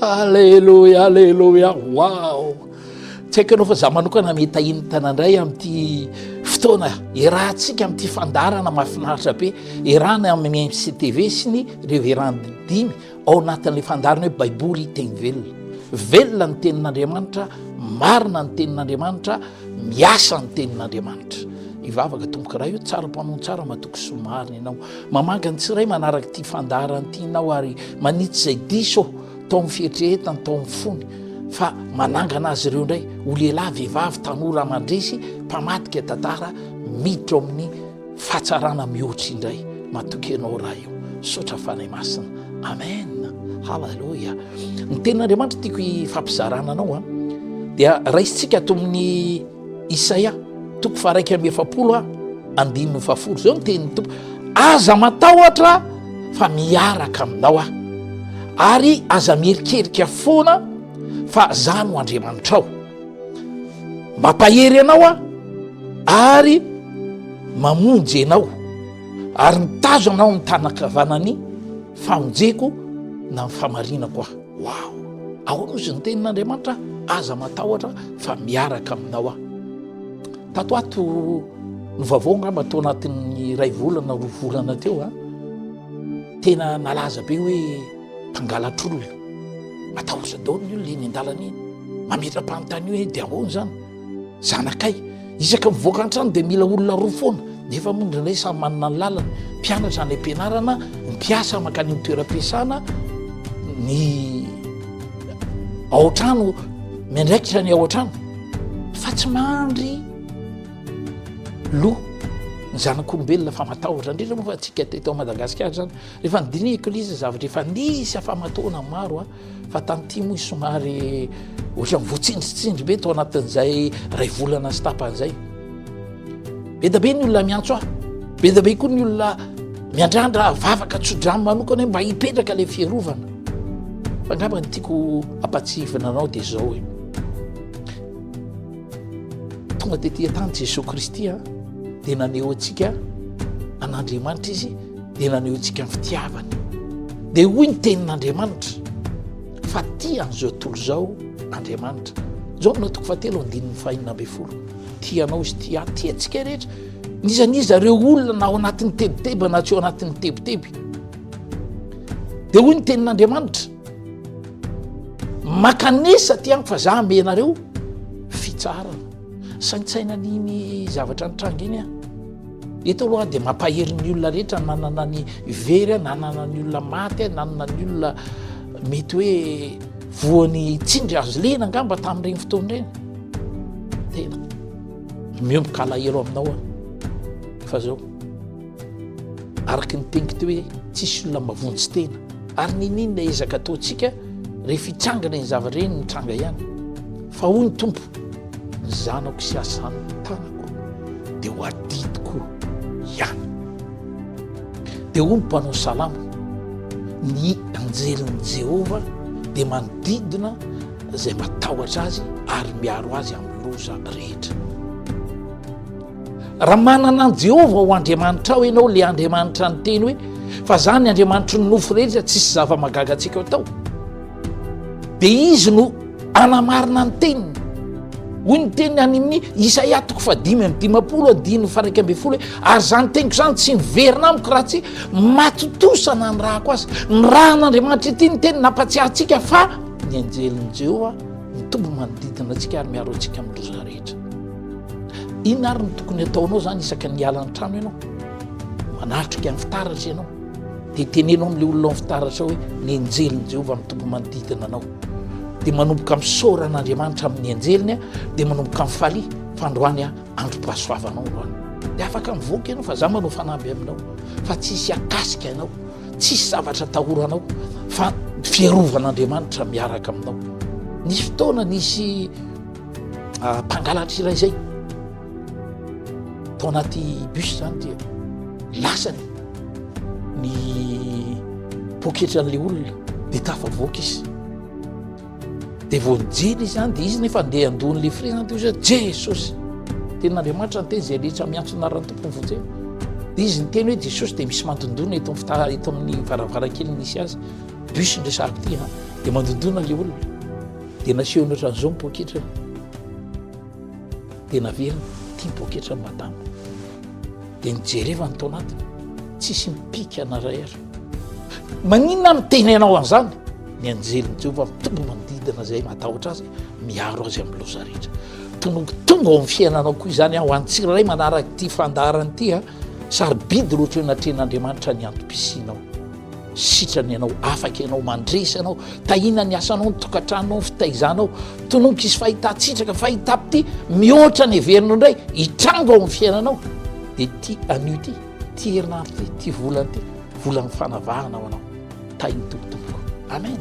Aleloia, aleloia, waouh Tsy haiko ianao fa za manokana mitahinitana indray amin'ity fotoana iarahantsika amin'ity fandaharana mahafinaritra be iarahana amin'ny MCTV sy ny Reverend dimy ao anatin'ilay fandaharana hoe Baiboly teny velona. Velona ny tenin'Andriamanitra, marina ny tenin'Andriamanitra, miasa ny tenin'Andriamanitra. Ivavaka tompokolahy io tsara mpamono tsara matoky somarina ianao. Mamanga ny tsirairay manaraka ity fandaharana ity ianao ary manitsy izay diso tao amin'ny fieritreretany, tao amin'ny fony fa manangana azy ireo indray ho lehilahy, vehivavy, tanora mandresy, mpamadika tantara miditra ao amin'ny fahatsarana mihoatra indray. Matoky ianao raha io. Misaotra Fanahy Masina. Amen. Haleloia. Ny tenin'Andriamanitra tiako hifampizarana anao a dia raisintsika ato amin'ny Isaia toko faharaika amby efapolo a andininy fahafolo zao ny tenin'ny tompo aza matahotra fa miaraka aminao aho ary aza mierikerika foana fa za no andriamanitrao mampahery anao aho ary mamonjy anao ary mitazo anao ny tanakavanany famonjeko na ny famarinako aho Waouh! Ahoana ozy ny tenin'Andriamanitra, aza matahotra fa miaraka aminao aho. Tato ato ny vaovao angamba tao anatin'ny iray volana roa volana teo a tena nalaza be hoe mpangalatr'olona matahotra daholo ny olona eny an-dalana eny mametra-panontany hoe dia ahoana izany Zanakay, isaka mivoaka an-trano dia mila olona roa foana, nefa moa indraindray samy manana ny lalany, mpianatra any am-pianarana, mpiasa mankany amin'ny toeram-piasana, ny ao an-trano miandraikitra ny ao an-trano fa tsy mandry loha ny zanak'olombelona fa matahotra indrindra moa fa antsika teto Madagasikara izany, rehefa nodinihiko ilay izy zavatra efa nisy afa-mataona maro a. Fa tany tim hoy somary ohatran'ny voatsindritsindry be tao anatin'izay ray volana sy tapany zay be da be ny olona miantso aho be da be koa ny olona miandrandra vavaka tsodrano manokana hoe mba hipetraka le fierovana fa angamba ny tiako ampatsihivina anao dia zao hoe tonga tetia tany jesosy kristy a dia naneho antsika an'andriamanitra izy dia nanehontsika ny fitiavany. Dia hoy ny tenin'Andriamanitra fa tia an'izao tontolo izao Andriamanitra. Jaona toko fahatelo andininy fahenina ambin'ny folo. Tia anao izy tia ahy, tia antsika rehetra. Nizaniza ireo olona na ao anatin'ny tebiteby na tsy ao anatin'ny tebiteby. Dia hoy ny tenin'Andriamanitra, makanesa ty amiko fa za amenareo fitsaharana. Saintsaina an'iny zavatra nitranga iny aho. Eto aloha dia mampahery ny olona rehetra nanana ny very, nanana ny olona maty, nanana ny olona mety hoe voan'ny tsindry azo lena angamba tamin'ireny fotoana ireny. Tena miomboka alahelo aminao aho fa zao. Araka ny teniko teo hoe tsisy olona mavonjy tena ary nininona ezaka ataontsika rehefa hitsangana ny zavatra ireny mitranga ihany fa hoy ny tompo ny zanako sy asan'ny tanako dia ho adidiko ihany dia hoy ny mpanao salamo ny anjelin'i Jehovah dia manodidina izay matahotra azy ary miaro azy amin'ny loza rehetra Raha manana an'i Jehovah ho Andriamanitrao ianao, ilay Andriamanitra niteny hoe fa izaho ny Andriamanitry ny nofo rehetra, tsy hisy zava-mahagaga antsika ho atao, dia izy no hanamarina ny teniny. Hoy ny teniny any amin'ny Isaia toko fahadimy amin'ny dimampolo andininy faraika ambin'ny folo hoe ary izany teniko izany tsy miverina amiko raha tsy matontosa nanirahako azy. Nirahan'Andriamanitra ity ny teny nampatsiahantsika fa ny anjelin'i Jehovah mitombo manodidina antsika ary miaro antsika amin'ny loza rehetra. Inona ary no tokony ataonao zany isaka ny hiala an-trano ianao? Manatrika amin'ny fitaratra ianao. Dia teneno amin'ilay olona amin'ny fitaratra hoe ny anjelin'i Jehovah mitombo manodidina anao. Dia manomboka misaora an'Andriamanitra amin'ny anjeliny, dia manomboka mifalia fa androany androm-pahasoavanao androany. Dia afaka mivoaka ianao fa za manao fanamby aminao fa tsy hisy akasika anao, tsy hisy zavatra tahoranao fa fiarovan'Andriamanitra miaraka aminao. Nisy fotoana nisy mpangalatra iray zay tao anaty bus zany dia lasany ny poketra an'le olona de tafavoaka izy de vao nijery izy zany de izy nefa andeha andohan'le frezany teo zay jesosy tenin'andriamanitra ny teny zay le tsa miantso anaran'ny tompony vao jery de izy ny teny hoe jesosy de misy mandondona eto am fitara eto amin'ny varavarankely misy azy bus ndray sahako ty a de mandondona le olona Dia nasehony ohatran'izao ny poketrany. Dia naveriny, ity ny poketrany madama. Dia nijerevany tao anatiny, tsisy mipika na iray ary. Maninona miteny anao an'izany? Ny anjelin'i Jehovah mitombo manodidina izay matahotra azy, miaro azy amin'ny loza rehetra. Tongotongo ao amin'ny fiainanao koa izany ho an'ny tsirairay manaraka ity fandaharana ity. Sarobidy loatra eo anatrehan'Andriamanitra ny antom-pisianao. Sitrana ianao, afaka ianao, mandresy ianao, tahiana ny asanao, ny tokantranonao, ny fitaizanao. Tononiko izy fahitan-tsitraka, fahitam-pitia, mihoatra ny heverinao indray, hitranga ao amin'ny fiainanao. Dia ity anio ity, ity herinandro ity, ity volana ity, volan'ny fanavahana ho anao. Tahin'ny tompotompoko. Amen.